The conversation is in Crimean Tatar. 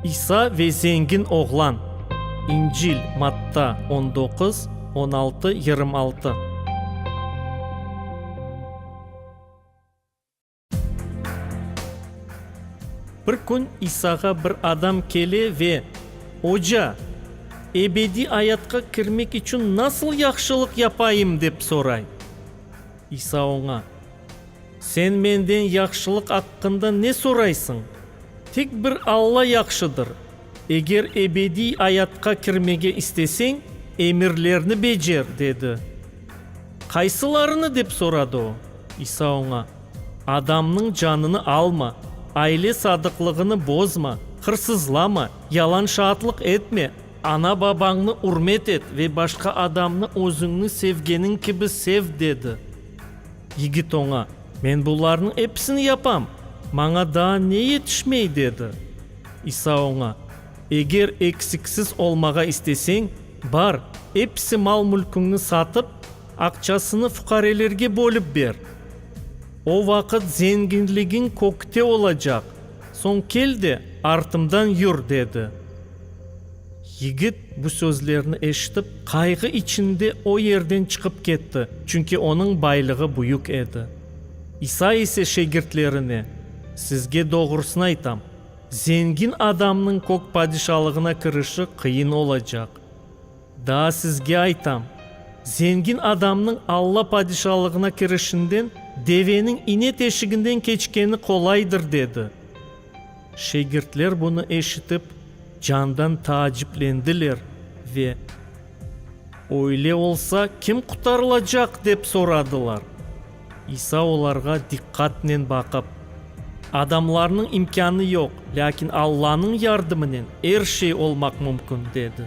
İsa ve zengin oğlan. İncil, Matta, on doquz, on altı, yırım altı. Bir kün İsağa bir adam kele ve, Oca, ebediy ayatqa kirmek içün nasıl yahşılıq yapayım? dep soray. İsa oña. Sen menden yahşılıq aqqında ne soraysıñ? Tek bir Alla yahşıdır. Eger ebediy ayatqa kirmege isteseñ, emirlerni becer, dedi. Qaysılarını? dep soradı o. İsa oña, Adamnıñ canını alma, aile sadıqlığını bozma, hırsızlama, yalan şaatlıq etme, ana-babañnı ürmet et ve başqa adamnı özüñni sevgeniñ kibi sev, dedi. Yigit oña, Men bularnıñ episini yapam, maña daa ne yetişmey? dedi. İsa oña, Eger eksiksiz olmağa isteseñ, bar, episi mal-mülküñni satıp, aqçasını fuqarelerge bölip ber. O vaqıt zenginligiñ kökte olacaq, soñ kel de, artımdan yür, dedi. Yigit bu sözlerni eşitip, qayğı içinde o yerden çıqıp ketti, çünki onıñ baylığı büyük edi. İsa ise şegirtlerine, Sizge doğrusını aytam, zengin adamnıñ kök padişalığına kirişi qıyın olacaq. Daa sizge aytam, zengin adamnıñ Alla Padişalığına kirişinden deveniñ ine teşiginden keçkeni qolaydır, dedi. Şegirtler bunı eşitip, candan taaciplendiler ve, Öyle olsa, kim qutarılacaq? dep soradılar. İsa olarğa diqqatnen baqıp, Adamlarnıñ imkânı yoq, lâkin Allanıñ yardımınen er şey olmaq mümkün, dedi.